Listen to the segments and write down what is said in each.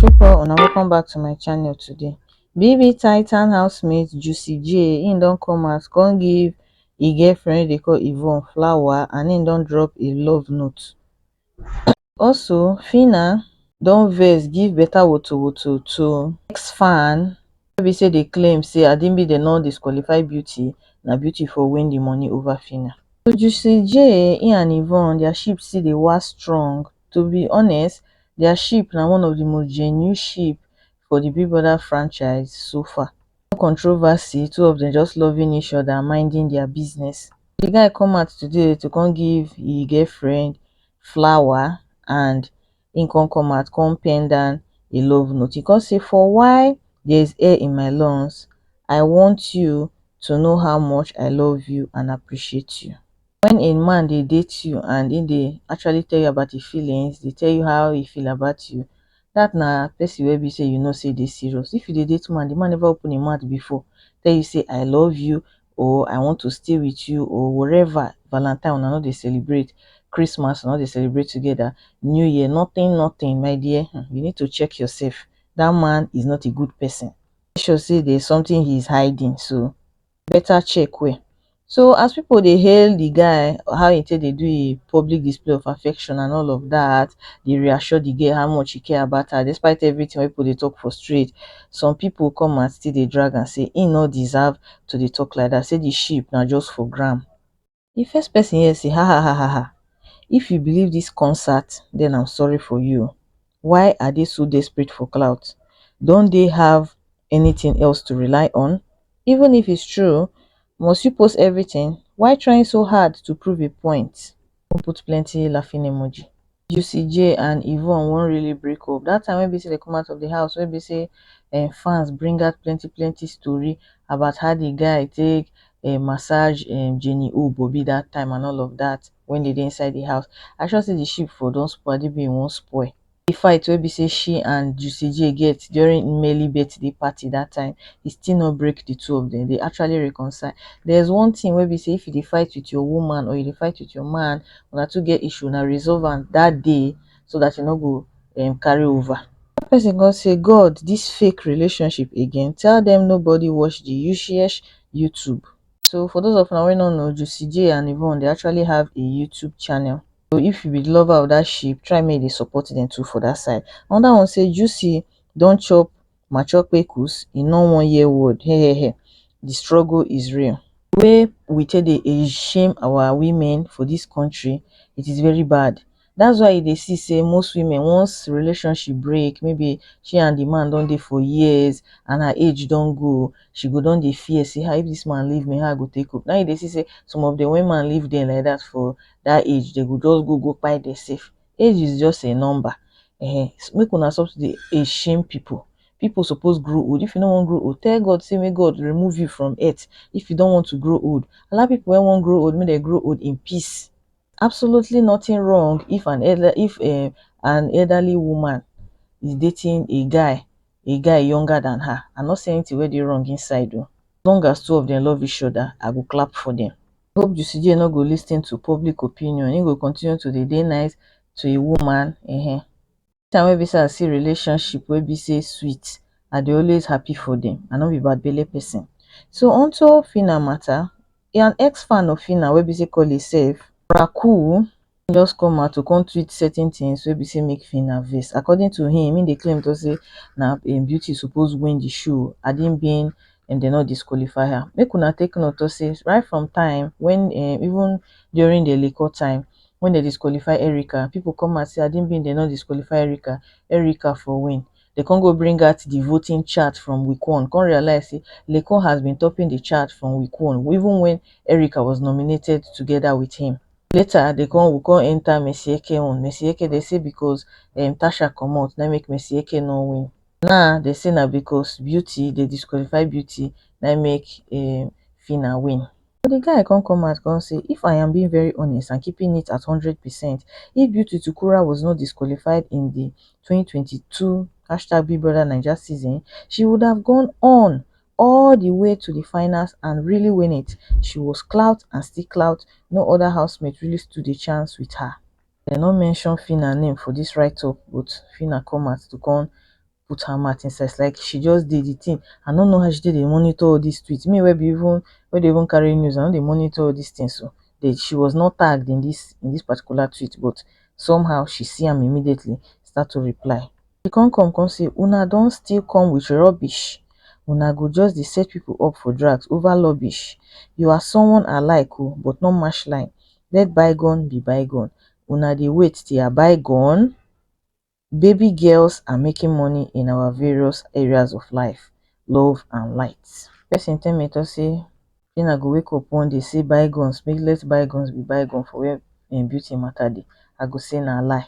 people una welcome back to my channel today bb titan housemate juicy j him don come out come give e girlfriend wey dey call yvonne flower and him don drop a love note also phyna don vex give better wotowoto to ex fan no be say di claim say adibide no disqualify beauty na beauty for win di money ova phyna to juicy j he and yvonne dia ship still dey wax strong to be honest dia ship na one of di most genuine ship for di big brother franchise so far no controversy two of dem just loving each other and minding dia business di guy come out today to come give he girlfriend flower and He come come out, come pen down a love note. He come say, For why there is air in my lungs, I want you to know how much I love you and appreciate you. When a man they date you and he they actually tell you about his feelings, they tell you how he feel about you, that na person wey be say you know say they serious. If you dey date man, the man never open him mouth before, tell you say I love you, or I want to stay with you or whatever. Valentine una no dey celebrate, Christmas una no dey celebrate together, New Year nothing nothing my dear hmm, you need to check yourself that man is not a good person. Make sure say there is something he is hiding so better check well. So as people dey hail the guy how he take dey do a public display of affection and all of that, dey reassure the girl how much he care about her despite everything wey people dey talk for street. Some people come and still dey drag am say he no deserve to dey talk like dat say the sheep na just for gram the first person hear say hahahaha if you believe this concert then am sorry for you o why are dey so desperate for clout don't dey have anything else to rely on even if it's true must you post everything why trying so hard to prove a point. come put plenty laughing emoji. Juicy J and Yvonne wan really break up. That time wey be say they come out of the house, wey be say um, fans bring out plenty plenty story about how the guy take um, massage um, Jenny O Bobby that time and all of that when they dey inside the house. I sure say the ship for don spoil, the being won't spoil. the fight wey be say she and Juicy J get during Mmelly birthday party that time, e still no break the two of them. They actually reconcile. There's one thing wey be say if you dey fight with your woman or you dey fight with your man, una two get issue, una resolve am that day so that e no go um, carry over. That person come say, God, this fake relationship again? Tell them nobody watch the Yushiyesh YouTube. So for those of una wey no know, Juicy J and Yvonne dey actually have a YouTube channel. So if you be the lover of that sheep, try make you support them too for that side. Another one say Juicy don't chop mature pekus, in no one year word. Hey, hey, hey. The struggle is real. Where we take the shame our women for this country, it is very bad. That's why they see say most women once relationship break, maybe she and the man don't dey for years and her age don't go, she go don't dey fear say how ah, if this man leave me, how I go take up. Now they see say some of the women leave them like that for that age they go just go go kpai the safe age is just a number eh make una stop to dey dey shame people people suppose grow old if you no wan grow old tell God say make God remove you from earth if you don't want to grow old allow people wey wan grow old make dem grow old in peace absolutely nothing wrong if an elder if um an elderly woman is dating a guy a guy younger than her I no see anything wey dey wrong inside o as long as two of them love each other I go clap for them. I hope Jusigie no go lis ten to public opinion, he go continue to dey dey nice to a woman um time wey be say I see relationship wey be say sweet I dey always happy for dem I no be bad belle person so unto Phyna matter an ex fan of Phyna wey be say call himself Raku Im just come out to come tweet certain things wey be say make Phyna vex. According to him, him dey claim to say na um, Beauty suppose win the show had it been um dem no disqualify her. Make una take note to say right from time when um even during the Lekor time when dem disqualify Erica, people come out say had it been dem no disqualify Erica, Erica for win. Dem come go bring out the voting chart from week one, come realize say Lekor has been topping the chart from week one even when Erica was nominated together with him. later dey come we come enter Messi Eke own, Messi Eke dey say because um Tasha comot na im make Messi Eke no win now dey say na because Beauty dey disqualify Beauty na im make um Phyna win. So the guy come come out come say if I am being very honest and keeping it at hundred percent if Beauty to Kura was not disqualified in the twenty twenty two hashtag BigBrotherNaija season she would have gone on all di way to di finals and really win it she was clout and still clout no oda housemates really stood a chance wit her dem no mention phyna name for dis write up but phyna come out to come put her mouth inside it's like she just dey di tin i no know how she take dey monitor all dis tweets me wey be even wey dey even carry news i no dey monitor all dis tins oh but she was not tagged in dis in dis particular tweet but somehow she see am immediately start to reply He come come come say una don still come with rubbish una go just dey set people up for drags over lubbish you are someone I like o but not mash line let bygone be bygone una dey wait till I buy gun baby girls are making money in our various areas of life love and light. Person tell me talk say him I go wake up one day say bygones make let bygones be bygone for where him beauty matter dey I go say na lie.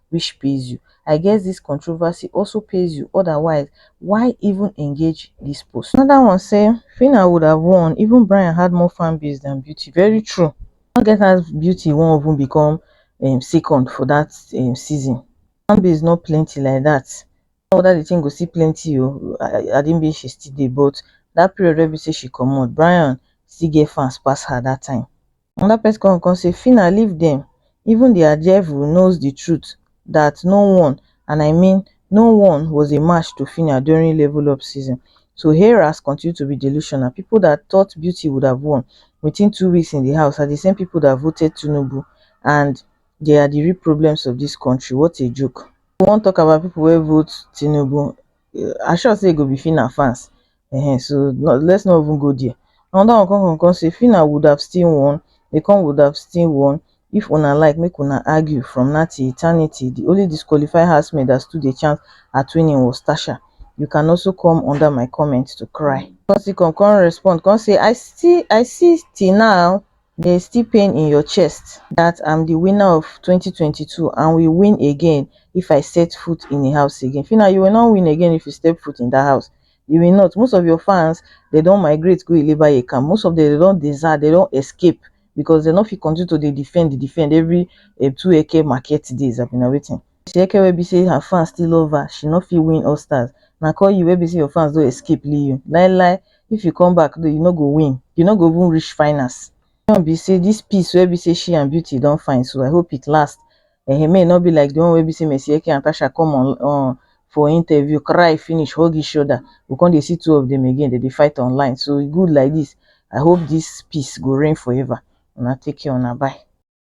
which pays you i guess this controversy also pays you otherwise why even engage this post another one say phyna would have won even bryan had more fan base than beauty very true no get as beauty wan even become um second for that um season fan base no plenty like that no whether the thing go still plenty o i didn't mean she still dey but that period wey be say she comot bryan still get fans pass her that time another person come come say phyna leave dem even the ajaero knows the truth that no one and i mean no one was a match to phyna during level up season so heras continue to be delusional people that thought beauty would have won within two weeks in the house are the same people that voted tinubu and they are the real problems of this country what a joke we wan talk about people wey vote tinubu I sure say e go be Phyna fans um so let's not even go there. Another one come come come say Phyna would have still won, Ekong would have still won if una like make una argue from now till eternity. The only disqualified housemaid that stood a chance at winning was Tasha. You can also come under my comment to cry. Come still come come respond come say I still I see till now dey still pain in your chest dat am di winner of twenty twenty two and will win again if I set foot in a house again shey na you will not win again if you step foot in dat house you will not most of your fans dey don migrate go ilebaye camp most of dem dey don desert dey don escape because dey no fit continue to dey defend defend every um two eke market days abi na wetin Oshiyeke wey be sey her fans still love her, she no fit win all stars, na kon you wey be sey your fans don escape leave you, lai lai if you come back you no go win, you no go even reach finals. My own be sey dis peace wey be sey she and Beauty don find so I hope it last um make e no be like di one wey be sey Messieke and Tasha come on for interview cry finish hug each oda, we kon dey see two of dem again dem dey fight online, so e good like dis, I hope dis peace go reign forever, una take care una bye.